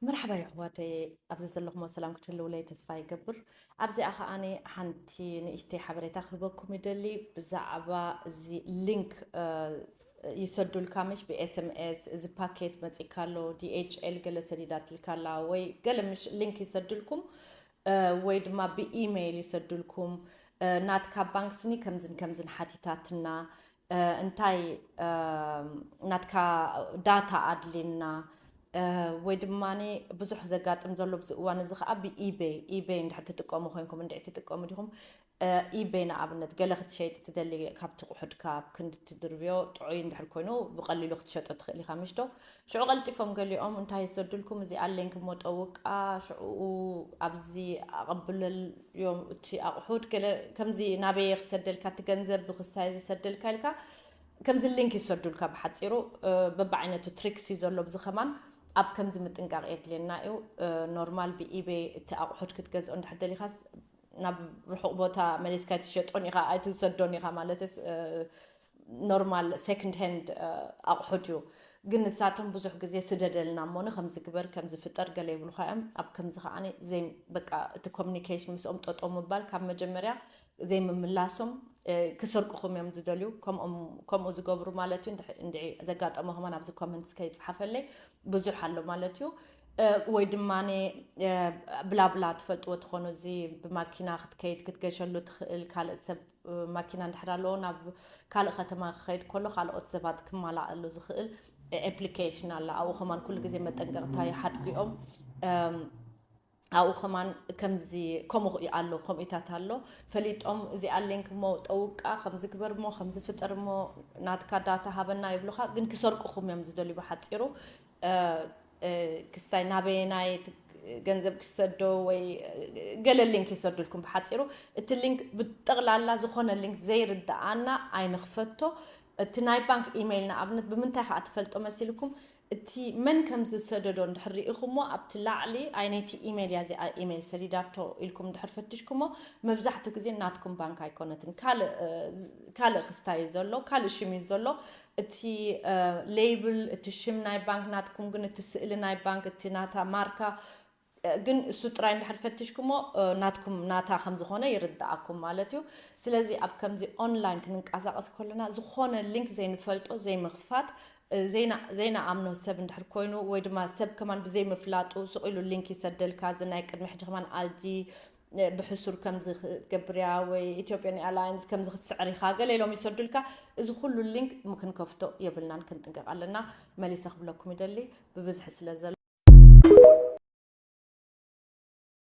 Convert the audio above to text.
መርሓባ የሕዋተየ ኣብዚ ዘለኹሞ ሰላም ክትህልውለይ ተስፋ ይገብር ኣብዚኣ ከኣ ሓንቲ ንእሽተይ ሓበሬታ ክህበኩም ይደሊ ብዛዕባ እዚ ሊንክ ይሰዱልካ ምሽ ብኤስምኤስ እዚ ፓኬት መፂካ ኣሎ ዲኤችኤል ገለ ሰዲዳትልካ ኣላ ወይ ገለ ምሽ ሊንክ ይሰዱልኩም ወይ ድማ ብኢመይል ይሰዱልኩም ናትካ ባንክ ስኒ ከምዝን ከምዝን ሓቲታትና እንታይ ናትካ ዳታ ኣድልየና ወይ ድማ ብዙሕ ዘጋጥም ዘሎ ብዚ እዋን እዚ ከዓ ብኢቤይ ኢቤይ እንድሕር ትጥቀሙ ኮይንኩም እንድዒ ትጥቀሙ ዲኹም ኢቤይ ንኣብነት ገለ ክትሸይጥ ትደሊ ካብ ትቑሑድካ ክንዲ ትድርብዮ ጥዑይ እንድሕር ኮይኑ ብቐሊሉ ክትሸጦ ትኽእል ኢኻ ምሽዶ ሽዑ ቀልጢፎም ገሊኦም እንታይ እዩ ዘድልኩም እዚ ኣለኝ ክሞ ጠውቃ ሽዑኡ ኣብዚ ኣቐብለልዮም እቲ ኣቑሑት ገለ ከምዚ ናበየ ክሰደልካ እቲ ገንዘብ ብክስታየ ዝሰደልካ ኢልካ ከምዚ ሊንክ ይሰዱልካ ብሓፂሩ በብዓይነቱ ትሪክስ እዩ ዘሎ ብዚ ከማን ኣብ ከምዚ ምጥንቃቕ የድልየና እዩ ኖርማል ብኢቤ እቲ ኣቑሑት ክትገዝኦ እንድሕር ደሊኻስ ናብ ርሑቕ ቦታ መሊስካ ኣይትሸጦን ኢኻ ኣይትሰዶን ኢኻ ማለት ኖርማል ሰክንድ ሀንድ ኣቑሑት እዩ ግን ንሳቶም ብዙሕ ግዜ ስደደልና እሞኒ ከምዚ ግበር ከምዚ ፍጠር ገለ ይብሉኻ እዮም ኣብ ከምዚ ከዓኒ ዘይ በቃ እቲ ኮሚኒኬሽን ምስኦም ጠጦ ምባል ካብ መጀመርያ ዘይምምላሶም ክሰርቁኹም እዮም ዝደልዩ ከምኡ ዝገብሩ ማለት እዩ እንድዒ ዘጋጠሞ ከማን ኣብዚ ኮመንትስ ከይፅሓፈለይ ብዙሕ ኣሎ ማለት እዩ ወይ ድማ ብላብላ ትፈልጥዎ ትኾኑ እዚ ብማኪና ክትከይድ ክትገሸሉ ትኽእል ካልእ ሰብ ማኪና እንድሕር ኣለዎ ናብ ካልእ ከተማ ክኸይድ ከሎ ካልኦት ሰባት ክማላኣሉ ዝኽእል ኤፕሊኬሽን ኣለ ኣብኡ ከማን ኩሉ ግዜ መጠንቀቕታ ይሓድጉኦም ኣብኡ ከማን ከምዚ ከምኡ ኣሎ ከምኡታት ኣሎ ፈሊጦም እዚ ኣሌንክ እሞ ጠውቃ ከምዚ ግበር እሞ ከምዚ ፍጠር እሞ ናትካ ዳታ ሃበና ይብሉካ ግን ክሰርቁኹም እዮም ዝደልዩ ብሓፂሩ ክስታይ ናበየናይ እቲ ገንዘብ ክሰዶ ወይ ገለ ሊንክ ይሰዱልኩም ብሓፂሩ እቲ ሊንክ ብጠቕላላ ዝኾነ ሊንክ ዘይርድኣና ኣይንኽፈቶ እቲ ናይ ባንክ ኢሜይል ንኣብነት ብምንታይ ከዓ ትፈልጦ መሲልኩም እቲ መን ከም ዝሰደዶ እንድሕር ርኢኹሞ ኣብቲ ላዕሊ ኣይነይቲ ኢሜይል እያ እዚኣ ኢሜይል ሰዲዳቶ ኢልኩም እንድሕር ፈትሽኩሞ መብዛሕትኡ ግዜ ናትኩም ባንክ ኣይኮነትን ካልእ ካልእ ክስታይ እዩ ዘሎ ካልእ ሽም እዩ ዘሎ እቲ ሌይብል እቲ ሽም ናይ ባንክ ናትኩም ግን እቲ ስእሊ ናይ ባንክ እቲ ናታ ማርካ ግን እሱ ጥራይ እንድሕር ፈትሽኩሞ ናትኩም ናታ ከም ዝኾነ ይርድኣኩም ማለት እዩ። ስለዚ ኣብ ከምዚ ኦንላይን ክንንቀሳቐስ ከሎና ዝኾነ ሊንክ ዘይንፈልጦ ዘይምኽፋት ዘይንኣምኖ ሰብ እንድሕር ኮይኑ ወይ ድማ ሰብ ከማን ብዘይምፍላጡ ስቕ ኢሉ ሊንክ ይሰደልካ እዚ ናይ ቅድሚ ሕጂ ከማን ኣዚ ብሕሱር ከምዚ ክትገብር እያ ወይ ኢትዮጵያን ኤርላይንስ ከምዚ ክትስዕር ኢኻ ገለ ኢሎም ይሰዱልካ እዚ ኩሉ ሊንክ ክንከፍቶ የብልናን ክንጥንቀቕ ኣለና መሊሰ ክብለኩም ይደሊ ብብዝሒ ስለ ዘሎ